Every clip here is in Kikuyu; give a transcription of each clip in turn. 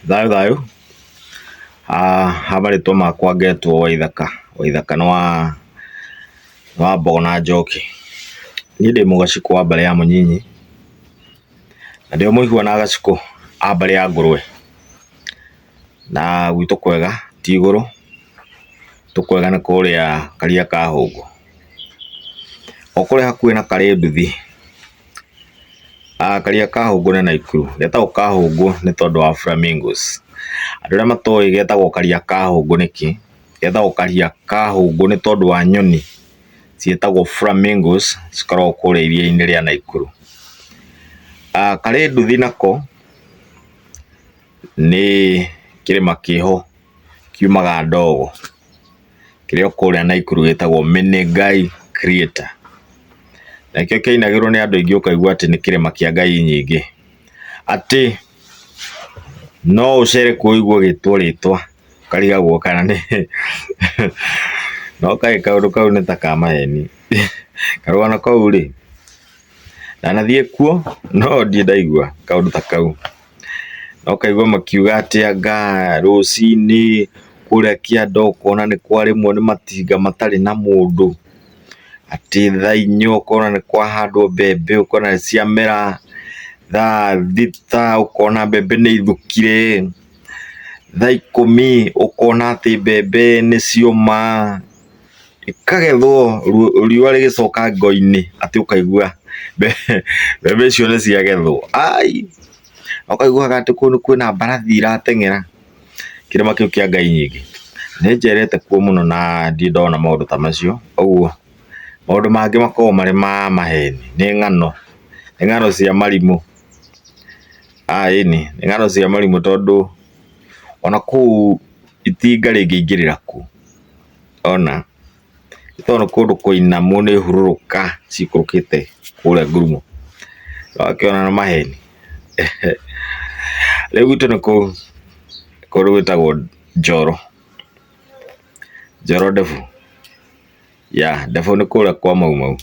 Thayũ thayũ, ha marĩtwa makwa ngetwo Waithaka, Waithaka nĩ wa nĩ wa mbogo na njoki. Niĩ ndĩ mũgacikũ wa mbarĩ ya mũnyinyi, na ndĩ o mũihũa na agacikũ a mbarĩ ya ngũrwe, na gwitũ kwega ti igũrũ, gwitũ kwega nĩ kũrĩa karia ka hũngũ, o kũrĩa hakuhĩ na karĩ nduthi. Karĩa ka hũngũ nĩ Naikuru, getagwo ka hũngũ nĩ tondũ wa flamingos. Andũ arĩa matoĩ getagwo karia ka hũngũ nĩkĩ, getagwo karia ka hũngũ nĩ tondũ wa nyoni ciĩtagwo flamingos cikoragwo kũrĩa iria-inĩ rĩa Naikuru. Karĩ nduthi nako nĩ kĩrĩma kĩho kiumaga ndogo. kĩrĩa o kũrĩa Naikuru gĩtagwo Menengai Crater. Nakĩo kĩainagĩrwo nĩ andũ aingĩ ũkaigua atĩ nĩ kĩrĩma kĩa ngai nyingĩ. Atĩ no ũcere kuo ũigue ũgĩtwo rĩtwa ũkarigagwo kana nĩ no kaĩ kaũndũ kau nĩ ta ka maheni. Karũgano kau rĩ, ndanathiĩ kuo no ndiĩ ndaigua kaũndũ ta kau. na ũkaigua makiuga atĩ anga rũcinĩ kũrĩa kĩanda ũkona nĩ kwarĩmwo nĩ matinga matarĩ na mũndũ, atĩ thaa inya ũkona nĩ kwahandwo mbembe ũkona nĩ ciamera, thaa thita ũkona mbembe nĩ ithukire, thaa ikũmi ũkona atĩ mbembe nĩ cioma. ĩkagethwo riũa rĩgĩcoka ngo-inĩ atĩ ũkaigua mbembe icio nĩ ciagethwo. Ai! Ũkaiguaga atĩ kũu nĩ kwĩna mbarathi irateng'era kĩrĩma kĩu kĩa Ngai Nyingĩ. Nĩ njerete kuo mũno na ndirĩ ndona maũndũ ta macio, ũguo maũndũ mangĩ makoragwo marĩ ma maheni, nĩ ng'ano, nĩ ng'ano cia marimũ. Aa ĩni, nĩ ng'ano cia marimũ tondũ ona kũu itinga rĩngĩingĩrĩra kũ? Ona nĩ tondũ kũndũ kũinamu nĩ hurũrũka cikũrũkĩte kũrĩa ngurumo. Nĩ wakĩona nĩ maheni. Rĩu gwitũ nĩ kũu kũndũ gwĩtagwo Njoro, Njoro Ndebu, yeah Ndebu nĩ kũrĩa kwa Mau Mau.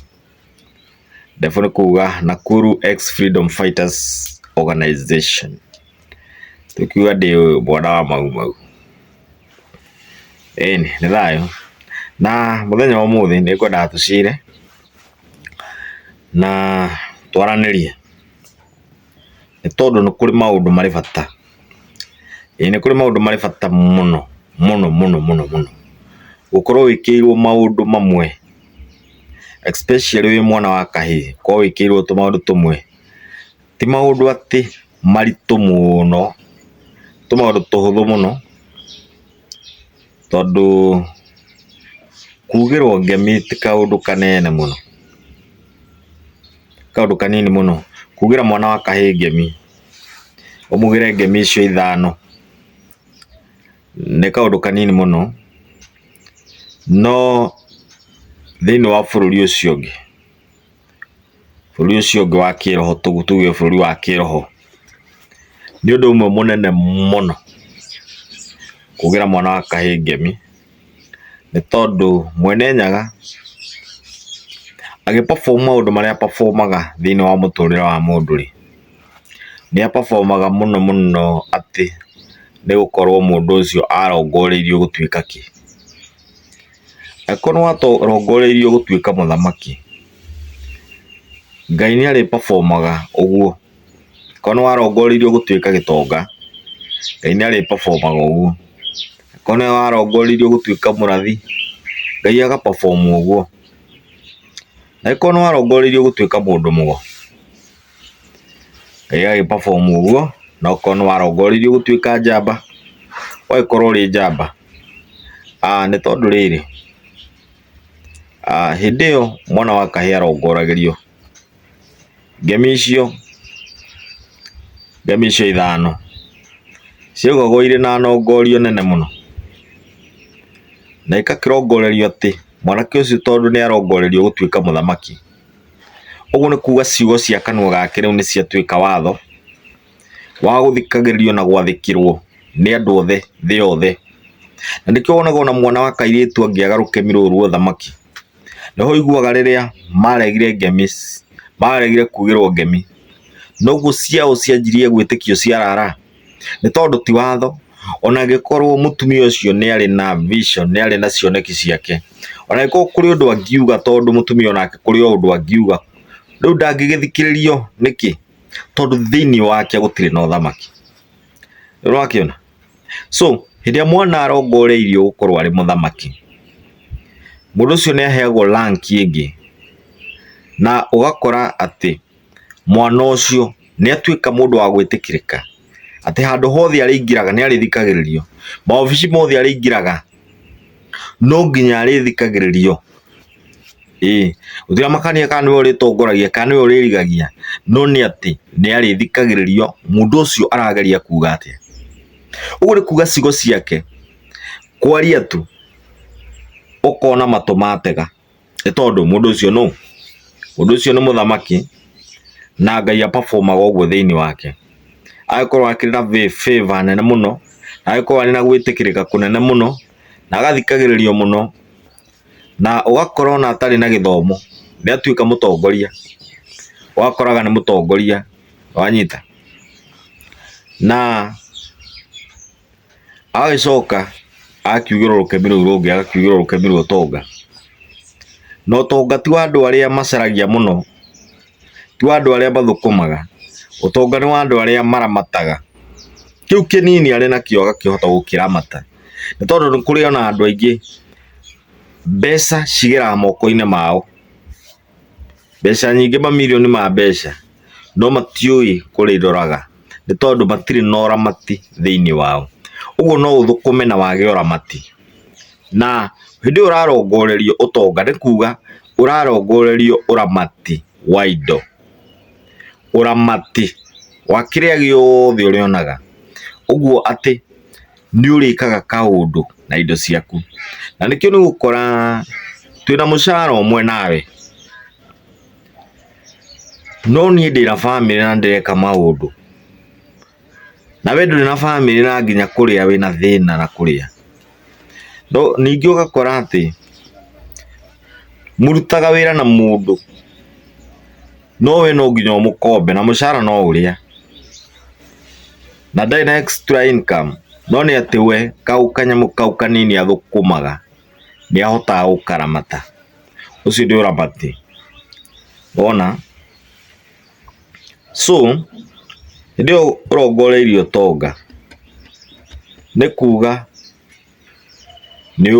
Ndefu nĩ kuga Nakuru Ex Freedom Fighters Organization. Tũkiuga ndĩ mwana wa mau mau. Ĩni, nĩ thayũ. Na mũthenya wa ũmũthĩ nĩ ngwendaga tũcire na twaranĩrie. Nĩ tondũ nĩ kũrĩ maũndũ marĩ bata. Ĩĩ nĩ kũrĩ maũndũ marĩ bata mũno mũno mũno mũno mũno. Gũkorwo wĩkĩrĩirwo maũndũ mamwe especially wĩ mwana wa kahĩĩ korwo wĩkĩirwo tũmaũndũ tũmwe, ti maũndũ atĩ maritũ mũno, tũmaũndũ tũhũthũ mũno, tondũ kugĩrwo ngemi ti kaũndũ kanene mũno, nĩ kaũndũ kanini mũno, kugĩra mwana wa kahĩĩ ngemi, ũmugĩre ngemi icio ithano. Nĩ kaũndũ kanini mũno, no thĩinĩ wa bũrũri ũcio ũngĩ, bũrũri ũcio ũngĩ wa kĩĩroho tuge bũrũri wa kĩĩroho, nĩ ũndũ ũmwe mũnene mũno kũgĩra mwana wa kahĩĩ ngemi, nĩ tondũ mwene nyaga agĩ perform maũndũ marĩa a perform aga thĩinĩ wa mũtũrĩre wa mũndũ-rĩ. nĩ a perform aga mũno mũno atĩ nĩ gũkorwo mũndũ ũcio arongoreirio gũtuĩka kĩ. Angĩkorwo nĩ warongoreirio gũtuĩka mũthamaki, Ngai nĩ arĩ perform aga ũguo. Angĩkorwo nĩ warongoreirio gũtuĩka gĩtonga, Ngai nĩ arĩ perform aga ũguo. Angĩkorwo nĩ warongoreirio gũtuĩka mũrathi, Ngai aga perform ũguo. Angĩkorwo nĩ warongoreirio gũtuĩka mũndũ mũgo. Ĩgagĩ perform ũguo na okorwo nĩ warongoririo gũtuĩka njamba, ũgagĩkorwo ũrĩ njamba. Nĩ tondũ rĩrĩ, hĩndĩ ĩyo mwana wa kahĩĩ arongoragĩrio ngemi icio, ngemi icio ithano, ciaugagwo irĩ na nongoria nene mũno. Na igakĩrongorerio atĩ mwanake ũcio tondũ nĩ arongoreirio gũtuĩka mũthamaki. Ũguo nĩ kuga ciugo cia kanua gake rĩu nĩ ciatuĩka watho wa gũthikagĩrĩrio na gwathĩkĩrwo nĩ andũ othe thĩ yothe. Na nĩkĩo wonaga ona mwana wa kairĩtu angĩaga rũkemi rũrũ rwa ũthamaki, nĩho ũiguaga rĩrĩa maregire ngemi, maregire kugĩrwo ngemi, noguo ciao cianjirie gwĩtĩkio ciarara. nĩ tondũ ti watho, ona angĩkorwo mũtumia ũcio nĩ arĩ na vision, nĩ arĩ na cioneki ciake, ona angĩkorwo kũrĩ ũndũ angiuga tondũ mũtumia onake kũrĩ o ũndũ angiuga, rĩu ndangĩgĩthikĩrĩrio nĩkĩ? Tondũ thĩiniĩ wake gũtirĩ na ũthamaki. Nĩ ũrakĩona? So, hĩndĩ ĩrĩa mwana arongoreirio gũkorwo arĩ mũthamaki, mũndũ ũcio nĩ aheagwo rank ĩngĩ, na ũgakora atĩ... mwana ũcio nĩ atuĩka mũndũ wa gwĩtĩkĩrĩka, atĩ handũ hothe arĩingĩraga nĩ arĩthikagĩrĩrio, maobici mothe arĩingĩraga no nginya arĩthikagĩrĩrio, ĩĩ. Gũtirĩ makania kana nĩwe ũrĩtongoragia kana nĩwe ũrĩrigagia, no nĩ atĩ nĩ arĩthikagĩrĩrio mũndũ ũcio arageria kuuga atĩa. Ũguo nĩ kuuga ciugo ciake kwaria tu ũkona matũ matega. nĩ tondũ mũndũ ũcio nũ? Mũndũ ũcio nĩ mũthamaki na Ngai a perform aga ũguo thĩinĩ wake. Agagĩkorwo akĩrĩ na favour nene mũno, agagĩkorwo arĩ na gwĩtĩkĩrĩka kũnene mũno, na agathikagĩrĩrio mũno, na ũgakora ona atarĩ na gĩthomo nĩ atuĩka mũtongoria, ũgakoraga nĩ mũtongoria, nĩ wanyita? Na agagĩcoka agakiugĩrwo rũkemi rũu rũngĩ agakiugĩrwo rũkemi rwa ũtonga na ũtonga ti wa andũ arĩa macaragia mũno ti wa andũ arĩa mathũkũmaga ũtonga nĩ wa andũ arĩa maramataga kĩu kĩnini arĩ nakĩo agakĩhota gũkĩramata nĩ tondũ nĩ kũrĩ ona andũ aingĩ mbeca cigeraga moko-inĩ mao Mbeca nyingĩ mamirioni ma mbeca no matiũĩ kũrĩroraga nĩ tondũ matirĩ na ũramati thĩinĩ wao. Ũguo no ũthũkũme na wage ũramati. Na hĩndĩ ĩyo ũrarongorerio ũtonga nĩ kuga ũrarongorerio ũramati wa indo, ũramati wa kĩrĩa gĩothe ũrĩonaga. Ũguo atĩ nĩ ũrĩkaga kaũndũ na indo ciaku na nĩkĩo nĩ gũkora twĩna mũcara ũmwe nawe no niĩ ndĩna bamĩrĩ na ndĩreka maũndũ na we ndũrĩ na bamĩrĩ na nginya kũrĩa wĩna thĩna na kũrĩa no ningĩ ũgakora atĩ mũrutaga wĩra na mũndũ no we no nginya ũmũkombe na mũcara no ũrĩa. na ndarĩ na extra income no nĩ atĩ we kau kanyamũ kau kanini athũkũmaga nĩ ahotaga gũkaramata. Ũcio nĩ ũramati wona. So hĩndĩ ĩyo ũrongoreirie ũtonga nĩ kuga... nĩ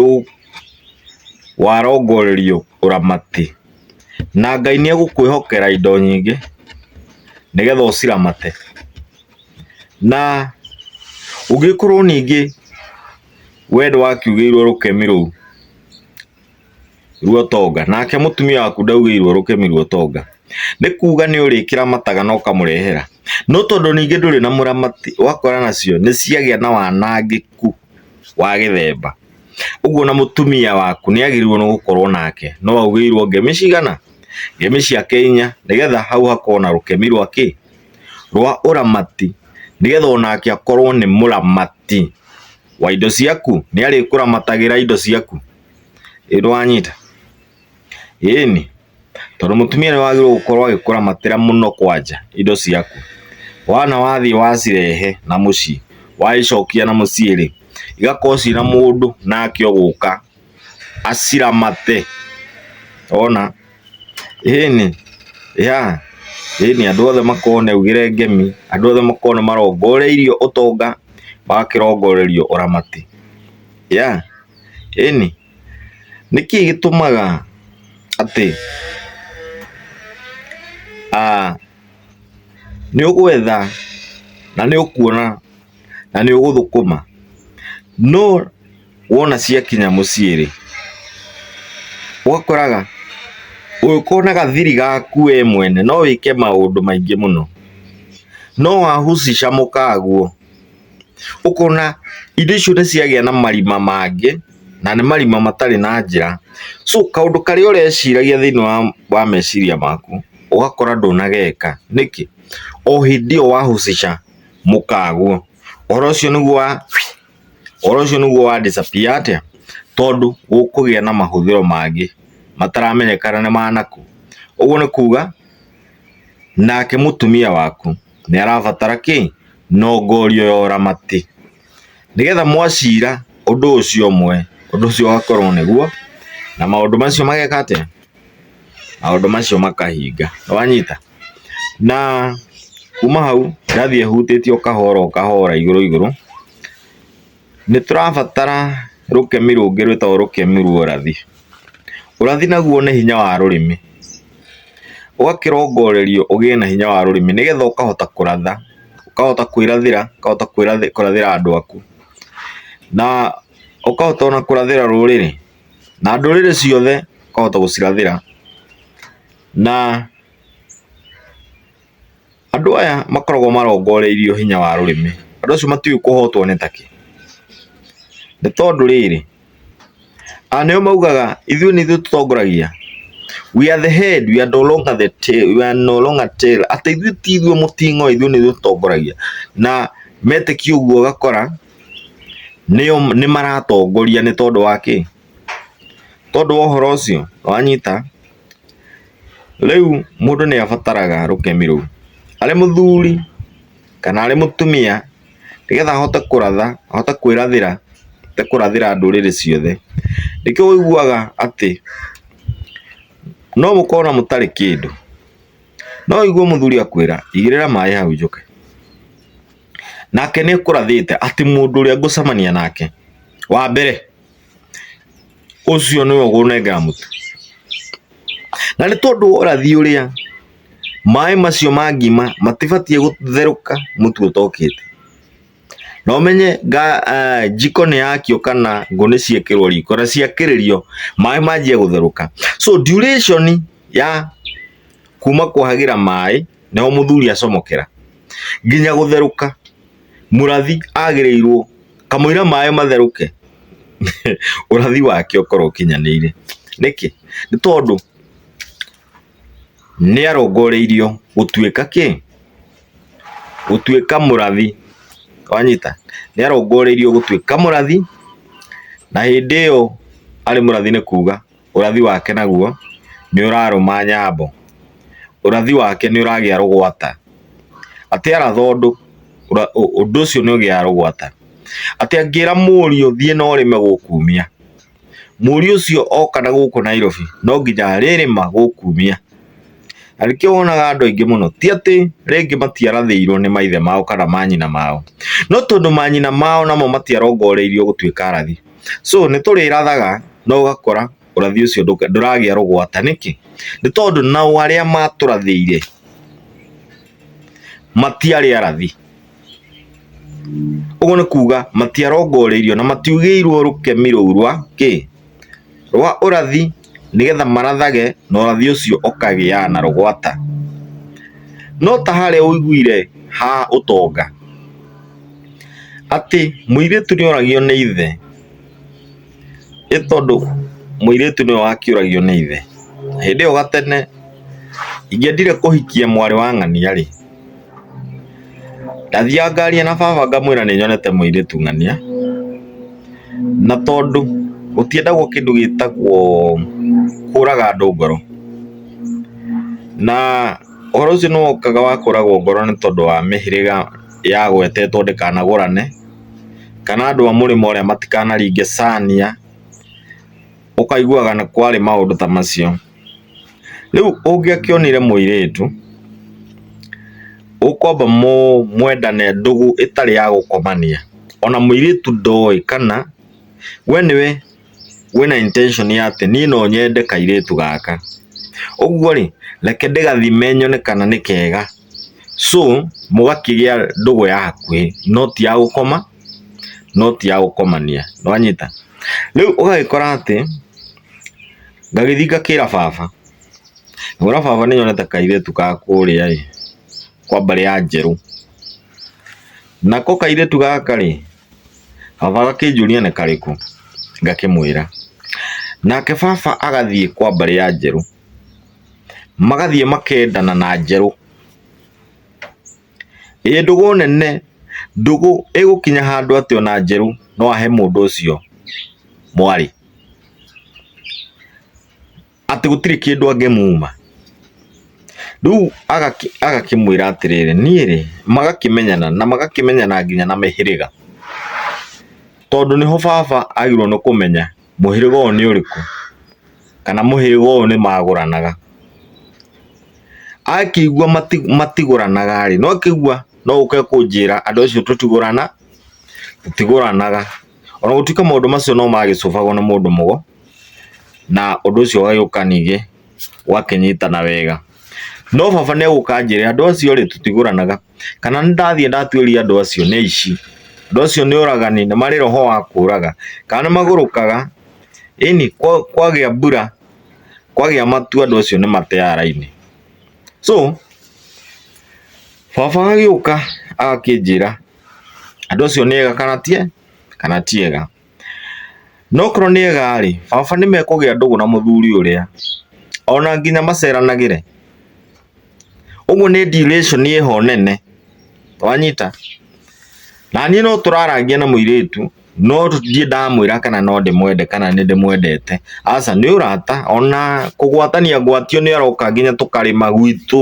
warongorerio ũramati, na Ngai nĩ egũkwĩhokera indo nyingĩ nĩgetha ũciramate, na ũngĩkorwo ningĩ we nĩ wakiugĩirwo rũkemi rũu. ruo tonga nake mutumia waku ndaugĩirwo rũkemi ruo tonga nĩ kuga nĩ ũrĩkĩra mataga na ũkamũrehera no tondũ ningĩ ndũrĩ na mũramati wakora nacio nĩ ciagĩa na wanangĩku wa gĩthemba ũguo na mutumia waku nĩ agĩrĩirwo nĩ gũkorwo nake no augĩirwo ngemi cigana ngemi ciake inya nĩgetha hau hakorwo na rũkemi rwa kĩ rwa ũramati nĩgetha onake akorwo nĩ mũramati wa indo ciaku nĩ arĩkũramatagĩra indo ciaku Ĩĩ nĩwanyita? Ĩĩni, tondũ mũtumia nĩ wagĩrĩirwo gũkorwo agĩkũramatĩra mũno kwanja indo ciaku. Wona wathiĩ wacirehe na mũciĩ, wacicokia na mũciĩ rĩ, igakorwo ciĩna mũndũ nake ũgũka aciramate. Wona? Ĩĩni, yeah, ĩĩni andũ othe makorwo nĩ augĩre ngemi, andũ othe makorwo nĩ marongoreirio ũtonga, magakĩrongorerio ũramati. Yeah? Ĩni, nĩ kĩĩ gĩtũmaga atĩ nĩ ũgwetha na nĩ ũkuona na nĩ ũgũthũkũma no wona ciakinya mũciĩ rĩ, ũgakoraga ũngĩkorwo na gathiri gaku we mwene no wĩke maũndũ maingĩ mũno. No wahucica mũkaguo. ũkona indo icio nĩ ciagĩa na marima mangĩ na nĩ marima matarĩ na njĩra. So kaũndũ karĩa ũreciragia thĩinĩ wa meciria maku ũgakora ndũnageka. Nĩkĩ? O hĩndĩ ĩyo wa husisha mũkaguo, ũhoro ũcio nĩguo wa ũhoro ũcio nĩguo wa disappear atĩa? Tondũ gũkũgĩa na mahũthĩro mangĩ mataramenyekana nĩ ma nakũ. Ũguo nĩ kuga nake mũtumia waku... nĩ arabatara kĩ nongorio ya ũramati, nĩgetha mwacira ũndũ ũcio ũmwe, ũndũ ũcio ũgakorwo nĩguo, na maũndũ macio mageka atĩa? maũndũ macio makahinga, nĩ wanyita? na kuma hau ĩrathiĩ ĩhutĩtie o kahora o kahora igũrũ igũrũ, Nĩ tũrabatara rũkemi rũngĩ rwĩtagwo rũkemi rwa ũrathi. Ũrathi naguo nĩ hinya wa rũrĩmĩ, ũgakĩrongorerio ũgĩe na hinya wa rũrĩmĩ nĩgetha ũkahota kũratha, ũkahota kwĩrathĩra, ũkahota kũrathĩra andũ aku, na ũkahota ona kũrathĩra rũrĩrĩ, na ndũrĩrĩ ciothe ũkahota gũcirathĩra na Andũ aya makoragwo marongoreirio hinya wa rũrĩmĩ. Andũ acio matiũĩ kũhotwo nĩ takĩ. Nĩ tondũ rĩrĩ, a nĩo maugaga ithuĩ nĩ ithuĩ tũtongoragia. We are the head, we are no longer the tail, we are no longer tail. Atĩ ithuĩ ti ithuĩ mũting'oe ithuĩ nĩ ithuĩ tũtongoragia. Na metĩkia ũguo ũgakora nĩo nĩ maratongoria nĩ tondũ wa kĩ? Tondũ wa ũhoro ũcio, nĩwanyita? Rĩu mũndũ nĩ abataraga rũkemi rũu arĩ mũthuri kana arĩ mũtumia nĩ getha ahote kũratha, ahote kwĩrathĩra, ahote kũrathĩra ndũrĩrĩ ciothe. Nĩkĩo ũiguaga atĩ no mũkorwo ona mũtarĩ kĩndũ, no ũigue mũthuri akwĩra igĩrĩra maĩ hau njoke. Nake nĩ ekũrathĩte atĩ mũndũ ũrĩa ngũcemania nake wa mbere. ũcio nĩwe ũkũnengera mũtu na nĩ tondũ wa ũrathi ũrĩa maĩ macio ma ngima matibatiĩ gũtherũka mũtu ũtokĩte. Na ũmenye njiko nĩ yakio kana ngũ nĩ ciekĩrwo riko na ciakĩrĩrio maĩ manjia gũtherũka. So duration ya kuma kwahagĩra maĩ nĩho mũthuri acomokera nginya gũtherũka. Mũrathi agĩrĩirwo kamũira maĩ matherũke ũrathi wake ũkorwo ũkinyanĩire. Nĩkĩ? Nĩ tondũ nĩ arongoreirio gũtuĩka kĩ? Gũtuĩka mũrathi. Wanyita? Nĩ arongoreirio gũtuĩka mũrathi na hĩndĩ ĩyo arĩ mũrathi nĩ kuga. ũrathi wake naguo nĩ ũrarũma nyambo, ũrathi wake nĩ ũragĩa rũgwata, atĩ arathondũ ũndũ ũcio nĩ ũgĩaga rũgwata, atĩ angĩra mũriũ thiĩ na ũrĩme gũkumia, mũriũ ũcio oka na gũkũ Nairobi no nginya arĩrĩma gũkumia, na nĩkĩo wonaga andũ aingĩ mũno ti atĩ rĩngĩ matiarathĩirwo nĩ maithe mao kana manyina mao, no tondũ manyina mao namo matiarongoreirio gũtuĩka arathi. so nĩ tũrĩrathaga no ũgakora ũrathi ũcio ndũka- ndũragĩa rũgwata nĩkĩ nĩ tondũ nao arĩa matũrathĩire matiarĩ arathi ũguo nĩ kuga matiarongoreirio na matiugĩirwo rũkemi rũu rwa kĩ rwa ũrathi nĩgetha marathage na ũrathi ũcio ũkagĩa na rũgwata. No ta harĩa ũiguire ha ũtonga atĩ mũirĩtu nĩ oragio nĩ ithe nĩ tondũ mũirĩtu nĩwe wakĩũragio nĩ ithe. Hĩndĩ ĩyo gatene ingĩendire kũhikia mwarĩ wa ng'ania rĩ, Ndathiaga ngaria na baba ngamwĩra nĩ nyonete mũirĩtu ng'ania, na tondũ gũtiendagwo kĩndũ gĩtagwo kũraga andũ ngoro, na ũhoro ũcio nĩ wokaga wa kũragwo ngoro nĩ tondũ wa mĩhĩrĩga yagwetetwo ndĩkanagũrane, kana andũ a mũrĩmo ũrĩa matikanaringe cania, ũkaiguaga nĩ kwarĩ maũndũ ta macio. Rĩu ũngĩakĩonire mũirĩtu ũkwamba mwendane ndũgũ ĩtarĩ ya gũkomania, ona mũirĩtu ndoĩ kana we nĩwe wĩna intention ya atĩ niĩ no nyende kairĩtu gaka. Ũguo rĩ, reke ndĩgathime nyone kana nĩ kega so mũgakĩgĩa ndũgũ ya hakuhĩ no ti ya gũkoma, no ti ya gũkomania, nĩwanyita? Rĩu ũgagĩkora atĩ... Ngagĩthiĩ ngakĩra baba, ngona baba nĩ nyonete kairĩtu ga kũrĩa ĩ, kwa mbarĩ ya Njerũ. Nako kairĩtu gaka rĩ, baba agakĩnjũria nĩ karĩkũ, ngakĩmwĩra. Nake baba agathiĩ kwa mbarĩ ya Njerũ, magathiĩ makendana na Njerũ. Ĩĩ ndũgũ nene, ndũgũ ĩgũkinya handũ atĩ ona njerũ no ahe mũndũ ũcio mwarĩ. Atĩ gũtirĩ kĩndũ angĩmuma. Rĩu agakĩmwĩra atĩrĩrĩ, niĩ rĩ, magakĩmenyana na magakĩmenyana nginya na mĩhĩrĩga. Tondũ nĩho baba agĩrĩirwo nĩ kũmenya. mũhĩrĩga ũyũ nĩ ũrĩkũ, kana mũhĩrĩga ũyũ nĩ magũranaga. Akĩigua matigũranaga rĩ, no akĩigua no oke kũnjĩra andũ acio tũtigũrana, tũtigũranaga. Ona gũtuĩka maũndũ macio no magĩcũbagwo nĩ mũndũ mũgo, na ũndũ ũcio ũgagĩũka ningĩ. ũgakĩnyitana wega. No baba nĩ egũka anjĩre andũ acio rĩ tũtigũranaga, kana nĩ ndathiĩ ndatuĩria andũ acio nĩ aici, andũ acio nĩ oragani, nĩ marĩ roho wa kũraga, kana nĩ magũrũkaga, ĩni kwagĩa mbura, kwagĩa matu andũ acio nĩ mateaga raini. So baba agĩũka agakĩnjĩra andũ acio nĩ ega kana ti ega. No okorwo nĩ ega-rĩ, baba nĩmekũgĩa ndũgũ na mũthuri ũrĩa, ona nginya maceranagĩre. Ũguo nĩ dilation ĩho nene, wanyita? Na niĩ no tũrarangia na mũirĩtu, no ndirĩ ndamwĩra kana no ndĩmwende kana nĩ ndĩmwendete, aca, nĩ ũrata, ona kũgwatania ngwatio nĩ aroka nginya tũkarĩma gwitũ,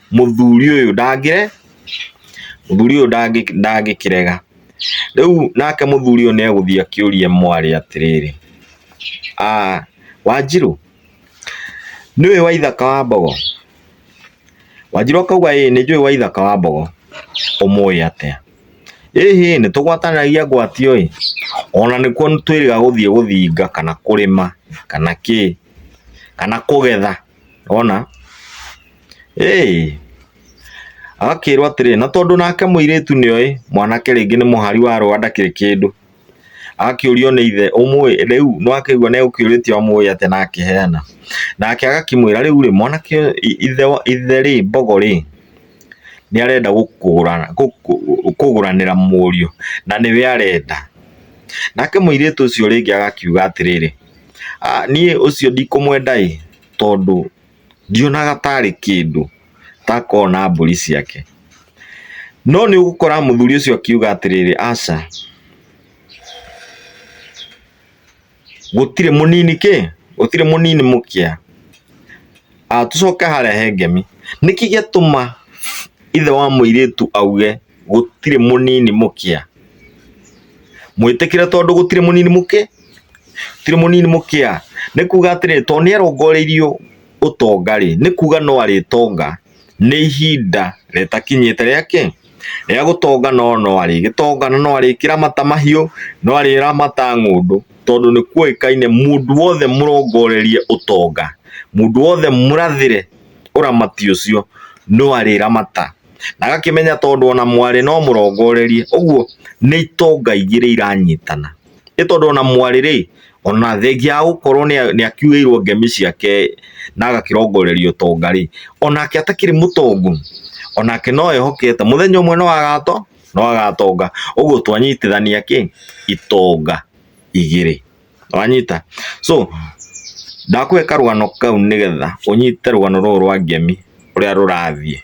mũthuri ũyũ ndangĩre mũthuri ũyũ ndangĩ- ndangĩkĩrega rĩu nake mũthuri ũyũ nĩegũthiĩ akĩũrie mwarĩ atĩrĩrĩ "Ah, wanjirũ nĩũĩ waithaka wa mbogo wanjirũ akauga ĩĩ nĩnjũĩ waithaka wa mbogo ũmũĩ atĩa ĩhĩ nĩtũgwatanĩragia ngwatio ĩ ona nĩkuo twĩrĩga gũthiĩ gũthinga kana kũrĩma kana kĩ kana kũgetha wona, ĩĩ, agakĩĩrwo atĩrĩ, na tondũ nake mũirĩtu nĩoĩ mwanake rĩngĩ nĩ mũhari wa rũa ndakĩrĩ kĩndũ, agakĩũrio nĩ ithe, ũmũĩ? Rĩu nĩwakĩigua nĩegũkĩũrĩtio amũĩ atĩa na akĩheana. Nake agakĩmwĩra, rĩu-rĩ, mwanake ũyũ ithe wa ithe-rĩ, mbogo-rĩ, nĩarenda gũkũgũra gũkũgũranĩra mũriũ, na nĩwe arenda. Nake mũirĩtu ũcio rĩngĩ agakiuga atĩrĩrĩ. Niĩ ũcio ndikũmwenda-ĩ, tondũ ndionaga tarĩ kĩndũ ta akoragwo na mbũri ciake. No nĩ ũgũkora mũthuri ũcio akiuga atĩrĩrĩ, aca, gũtirĩ mũnini kĩ, gũtirĩ mũnini mũkĩa. Tũcoke harĩa he ngemi, nĩkĩ gĩatũma ithe wa mũirĩtu auge. gũtirĩ mũnini mũkĩa mwĩtĩkĩre tondũ gũtirĩ mũnini mũkĩa gũtirĩ mũnini mũkĩa nĩ kuga atĩrĩrĩ tondũ nĩ arongoreirio ũtonga rĩ nĩ kuga no arĩtonga nĩ ihinda rĩtakinyĩte rĩa kĩ rĩa gũtonga no no arĩgĩtonga na no arĩkĩramata mahiũ no arĩramata ng'ũndũ tondũ nĩ kũĩkaine mũndũ wothe mũrongorerie ũtonga mũndũ wothe mũrathĩre ũramati ũcio no arĩramata. na agakĩmenya tondũ ona mwarĩ no mũrongorerie ũguo nĩ itonga ingĩ iria iranyitana nĩ tondũ ona mwarĩ rĩ ona thengia wa gũkorwo nĩ akiugĩirwo ngemi ciake na agakĩrongorerio tonga rĩ onake atakĩrĩ mũtongu onake no ehokete mũthenya ũmwe no agato no agatonga ũguo twanyitithania kĩ itonga igĩrĩ. wanyita so ndakũhe karũgano kau nĩgetha ũnyite rũgano rũrũ rwa ngemi ũrĩa rũrathiĩ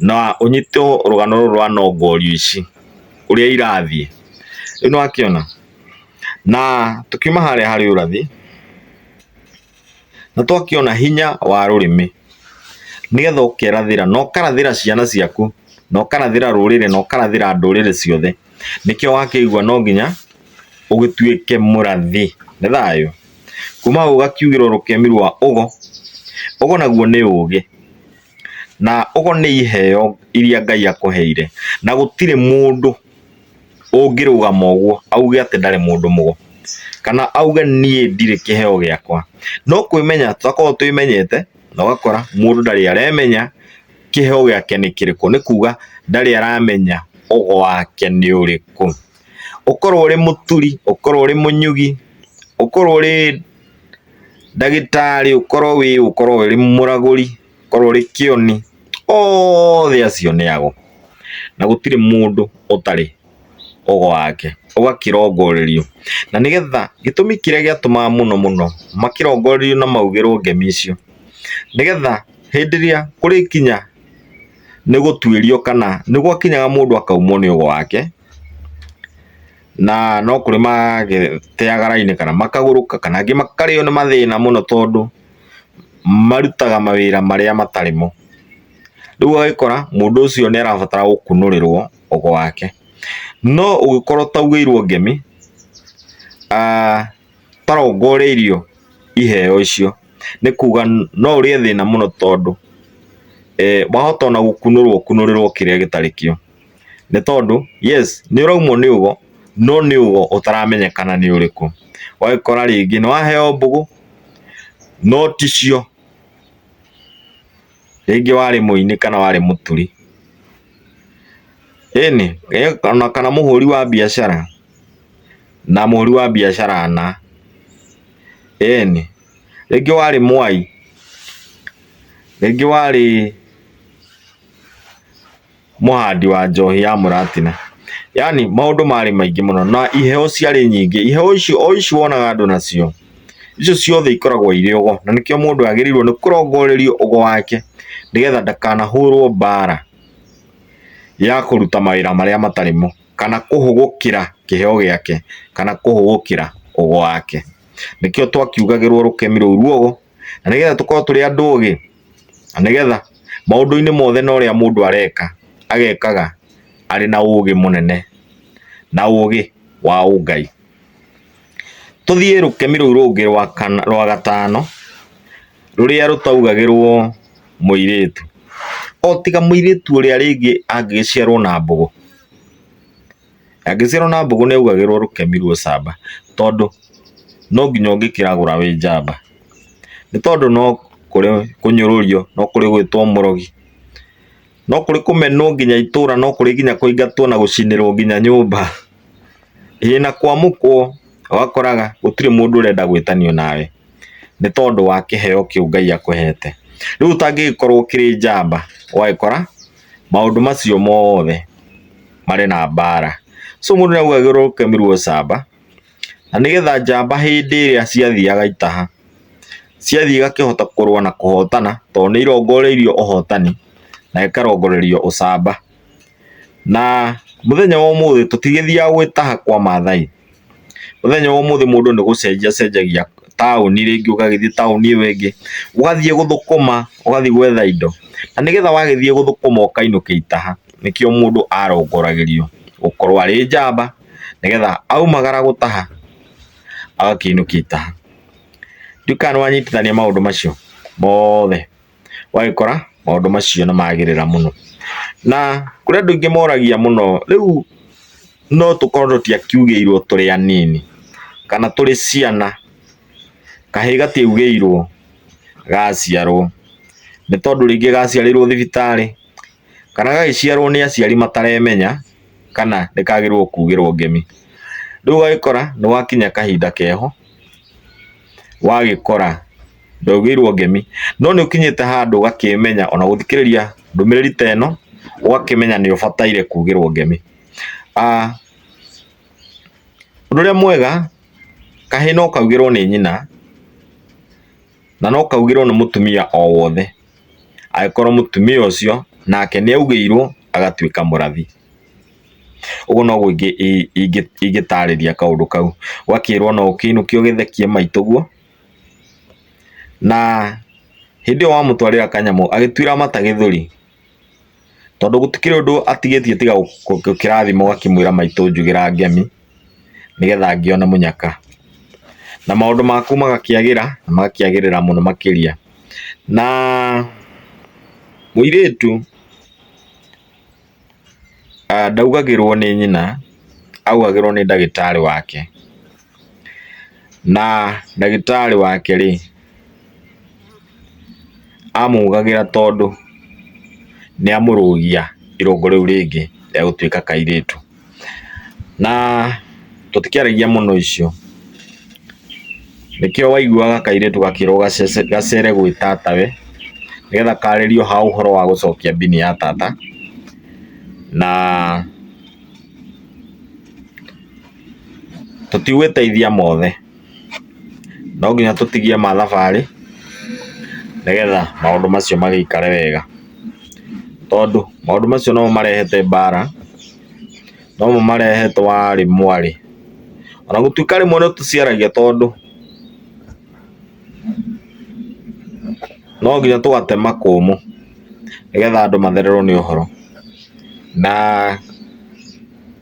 na ũnyite rũgano rũrũ rwa nongorio ici ũrĩa irathiĩ rĩu nĩwakĩona na tũkiuma harĩa harĩ ũrathi nĩ twakĩona hinya wa rũrĩmĩ nĩgetha ũkerathĩra na ũkarathĩra ciana ciaku na ũkarathĩra rũrĩrĩ na ũkarathĩra ndũrĩrĩ ciothe, nĩkĩo wakĩigua no nginya ũgĩtuĩke mũrathi. Nĩ thayũ? Kuma hau ũgakiugĩrwo rũkemi rwa ũgo, ũgo naguo nĩ ũgĩ, na ũgo nĩ iheo iria Ngai akũheire, na gũtirĩ mũndũ ũngĩrũgama ũguo auge atĩ ndarĩ mũndũ mũgo, kana auge niĩ ndirĩ kĩheo gĩakwa. No kwĩmenya tũrakorwo twĩmenyete na ũgakora mũndũ ndarĩ aremenya kĩheo gĩake nĩ kĩrĩkũ, nĩ kuga ndarĩ aramenya ũgo wake nĩ ũrĩkũ. Ũkorwo ũrĩ mũturi, ũkorwo ũrĩ mũnyugi, ũkorwo ũrĩ ndagĩtarĩ, ũkorwo wĩ ũ, ũkorwo ũrĩ mũragũri. korwo rĩ kĩoni othe acio nĩ ago, na gũtirĩ mũndũ ũtarĩ ũgo wake, ũgakĩrongorerio. Na nĩgetha, gĩtũmi kĩrĩa gĩatũmaga mũno mũno makĩrongorerio na maugĩrwo ngemi icio, nĩgetha hĩndĩ ĩrĩa kũrĩkinya nĩ gũtuĩrio kana nĩ gwakinyaga mũndũ akaumwo nĩ ũgo wake, na no kũrĩ magĩteaga raini kana makagũrũka kana angĩ makarĩo nĩ mathĩna mũno tondũ... marutaga mawĩra marĩa matarĩ mo. Rĩu ũgagĩkora mũndũ ũcio nĩ arabatara gũkunũrĩrwo ũgo wake. No ũngĩkorwo ũtaugĩirwo ngemi, ũtarongoreirio iheo icio, nĩ kuga no ũrĩe thĩna mũno tondũ wahota ona gũkunũrwo ũkunũrĩrwo kĩrĩa gĩtarĩ kĩo. nĩ tondũ yes nĩ ũraumwo nĩ ugo no nĩ ugo ũtaramenyekana nĩ ũrĩkũ. Ũgagĩkora rĩngĩ nĩ waheo mbũgũ no ticio, rĩngĩ warĩ mũini kana warĩ mũturi, ĩnĩ ona kana mũhũri wa biacara na mũhũri wa biacara na, ĩnĩ rĩngĩ warĩ mwai, rĩngĩ warĩ mũhandi wa njohi ya mũratina. Yaani maũndũ marĩ maingĩ mũno na iheo ciarĩ nyingĩ. Iheo icio o ici wonaga andũ nacio, icio ciothe ikoragwo irĩ ũgo, na nĩkĩo mũndũ agĩrĩirwo nĩ kũrongorerio ũgo wake nĩgetha ndakanahũrwo mbara ya kũruta mawĩra marĩa matarĩ mo, kana kũhũgũkĩra kĩheo gĩake, kana kũhũgũkĩra ũgo wake. Nĩkĩo twakiugagĩrwo rũkemi rũu ruogwo. na nĩgetha tũkorwo tũrĩ andũ ũgĩ na nĩgetha maũndũ-inĩ mothe na ũrĩa mũndũ areka agekaga arĩ na ũgĩ mũnene na ũgĩ wa ũngai. Tũthiĩ rũkemi rũu rũngĩ rwa kana rwa gatano rũrĩa rũtaugagĩrwo mũirĩtu, o tiga mũirĩtu ũrĩa rĩngĩ angĩgĩciarwo na mbũgũ. Angĩciarwo na mbũgũ nĩ augagĩrwo rũkemi rwa ũcamba tondũ no nginya ũngĩkĩragũra wĩ njamba. Nĩ tondũ no kũrĩ kũnyũrũrio, no kũrĩ gwĩtwo mũrogi, no kũrĩ kũmenwo nginya itũra, no kũrĩ nginya kũingatwo na gũcinĩrwo nginya nyũmba, ĩĩ na kwamũkwo. Ũgakoraga gũtirĩ mũndũ ũrenda gwĩtanio nawe nĩ tondũ wa kĩheo kĩu Ngai akũhete. Rĩu ũtangĩgĩkorwo ũkĩrĩ njamba ũgagĩkora maũndũ macio mothe marĩ na mbara. So mũndũ nĩahuhagĩrwo kemiri camba, na nĩgetha njamba hĩndĩ ĩrĩa ciathiaga itaha, ciathiĩ igakĩhota kũrũa na kũhotana, tondũ nĩirongoreirio ũhotani, na ikarongorerio ũcamba. Na mũthenya wa ũmũthĩ tũtigĩthiaga gwĩtaha kwa Maathai, Mũthenya wa ũmũthĩ mũndũ nĩ gũcenjia acenjagia taũni rĩngĩ ũgagĩthiĩ taũni ĩyo ĩngĩ, ũgathiĩ gũthũkũma, ũgathiĩ gwetha indo. Na nĩgetha wagĩthiĩ gũthũkũma ũkainũkia itaha, nĩkĩo mũndũ arongoragĩrio gũkorwo arĩ njamba, nĩgetha aumagara gũtaha agakĩinũkia itaha. Ndiũĩ kana nĩ wanyitithania maũndũ macio mothe. ũgagĩkora maũndũ macio nĩ magĩrĩra mũno. Na kũrĩ andũ aingĩ moragia mũno rĩu no tũkorwo tũtiakiugĩirwo tũrĩ anini kana tũrĩ ciana, kahĩĩ gatiaugĩirwo gaciarwo, nĩ tondũ rĩngĩ gaciarĩirwo thibitarĩ kana gagĩciarwo nĩ aciari mataremenya kana nĩ kagĩrĩirwo kugĩrwo ngemi. Rĩu ũgagĩkora nĩ gwakinya kahinda keho wagĩkora... ndũgĩirwo ngemi no nĩ ũkinyĩte handũ ũgakĩmenya ona gũthikĩrĩria ndũmĩrĩri ta ĩno ũgakĩmenya nĩ ũbataire kugĩrwo ngemi. Ah, ũndũ ũrĩa mwega kahĩ no kaugĩrwo nĩ nyina na no kaugĩrwo nĩ mũtumia o wothe angĩkorwo mũtumia ũcio nake nĩ augĩirwo agatuĩka mũrathi. Ũguo noguo ingĩtarĩria kaũndũ kau, ũgakĩrwo no ũkĩinũkio ũgĩthekie maitũ ũguo. Na hĩndĩ ĩyo wamũtwarĩra kanyamũ agĩtuĩra mata gĩthũri, tondũ gũtikĩrĩ ũndũ atigĩtie tiga kĩrathimo ũgakĩmwĩra maitũ njugĩra ngemi, nĩgetha ngĩone mũnyaka. Na maũndũ maku magakĩagĩra na magakĩagĩrĩra mũno makĩria. Na mũirĩtu... Ndaugagĩrwo nĩ nyina, augagĩrwo nĩ ndagĩtarĩ wake, na ndagĩtarĩ wake rĩ, amũgagĩra tondũ nĩamũrũgia irũngo rĩu rĩngĩ rĩa gũtuĩka kairĩtu. Na tũtikĩaragia mũno icio, nĩkĩo waiguaga kairĩtu gakĩrwo gacere gwĩ tatawe, nĩgetha karĩrio ha ũhoro wa gũcokia mbini ya tata, na tũtigwĩteithia mothe. no nginya tũtigie mathabarĩ nĩgetha maũndũ macio magĩikare wega. Tondũ maũndũ macio nomo marehete mbara, nomo marehe twarĩ mwarĩ. Ona gũtuĩka rĩmwe nĩ tũciaragia tondũ no nginya tũgate makũmbĩ nĩgetha andũ mathererwo nĩ ũhoro. Na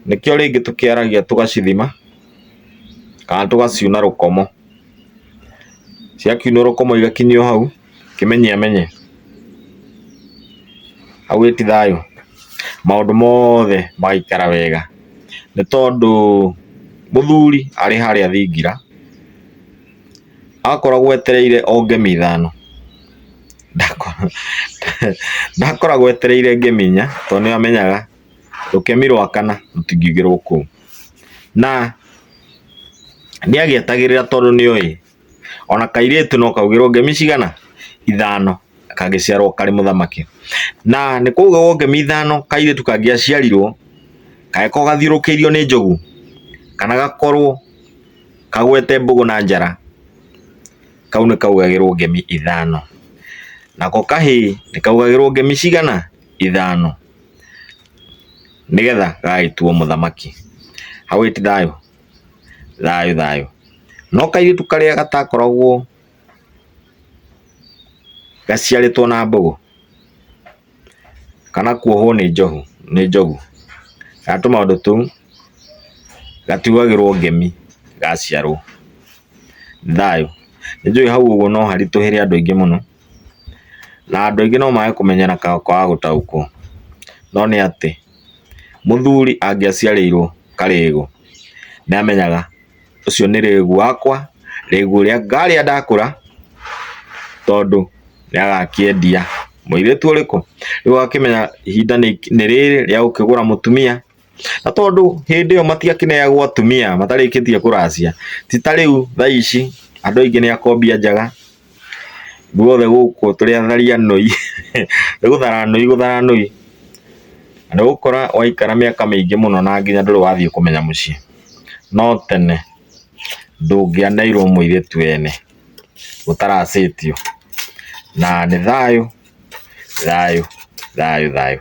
nĩkĩo rĩngĩ tũkĩaragia tũgacithima. kana tũgaciuna rũkomo. Ciakiunwo rũkomo igakinyio hau kĩmenyi amenye hau ĩti thayũ, maũndũ mothe magaikara wega, nĩ tondũ mũthuri arĩ harĩa thingira akoragwo etereire o ngemi ithano, ndakoragwo etereire ngemi inya tondũ nĩ amenyaga. rũkemi rwa kana rũtingĩgĩrwo kũu. Na nĩagĩetagĩrĩra tondũ nĩoĩ ona kairĩtu no kaugĩrwo ngemi cigana? Ithano kangĩciarwo karĩ mũthamaki. Na nĩ kwaugagwo ngemi ithano kairĩtu kangĩaciarirwo kangĩkorwo gathiũrũkĩirio nĩ njogu kana gakorwo kagwete mbũgũ na njara, kau nĩ kaugagĩrwo ngemi ithano. Nako kahĩĩ nĩ kaugagĩrwo ngemi cigana? Ithano. Nĩgetha gagagĩtuo mũthamaki, hau ĩti thayũ? Thayũ thayũ. No kairĩtu karĩa gatakoragwo gaciarĩtwo na mbũgũ, kana kuohwo nĩ njohu, nĩ njogu, kana tũmaũndũ tũu, gatiugagĩrwo ngemi gaciarwo. Thayũ. Nĩnjũĩ hau ũguo no haritũhĩre andũ aingĩ mũno, Na andũ aingĩ no mage kũmenya na kwaga gũtaũkwo, no nĩ atĩ mũthuri angĩaciarĩirwo karĩĩgu nĩ amenyaga ũcio nĩ rĩĩgu wakwa, rĩĩgu ũrĩa ngarĩa ndakũra tondũ nĩ agakĩendia. Mũirĩtu ũrĩkũ? Rĩu agakĩmenya ihinda nĩ rĩrĩ rĩa gũkĩgũra mũtumia. na tondũ hĩndĩ ĩyo matiakĩneagwo atumia matarĩkĩtie kũracia ti ta rĩu thaa ici andũ aingĩ nĩ akombia njaga guothe gũkũ tũrĩ atharia noi nĩ gũthara noi gũthara noi na nĩ ũgũkora waikara mĩaka mĩingĩ mũno na nginya ndũrĩ wathiĩ kũmenya mũciĩ no tene ndũngĩaneirwo mũirĩtu ene ũtaracĩtio na nĩ thayũ thayũ thayũ thayũ.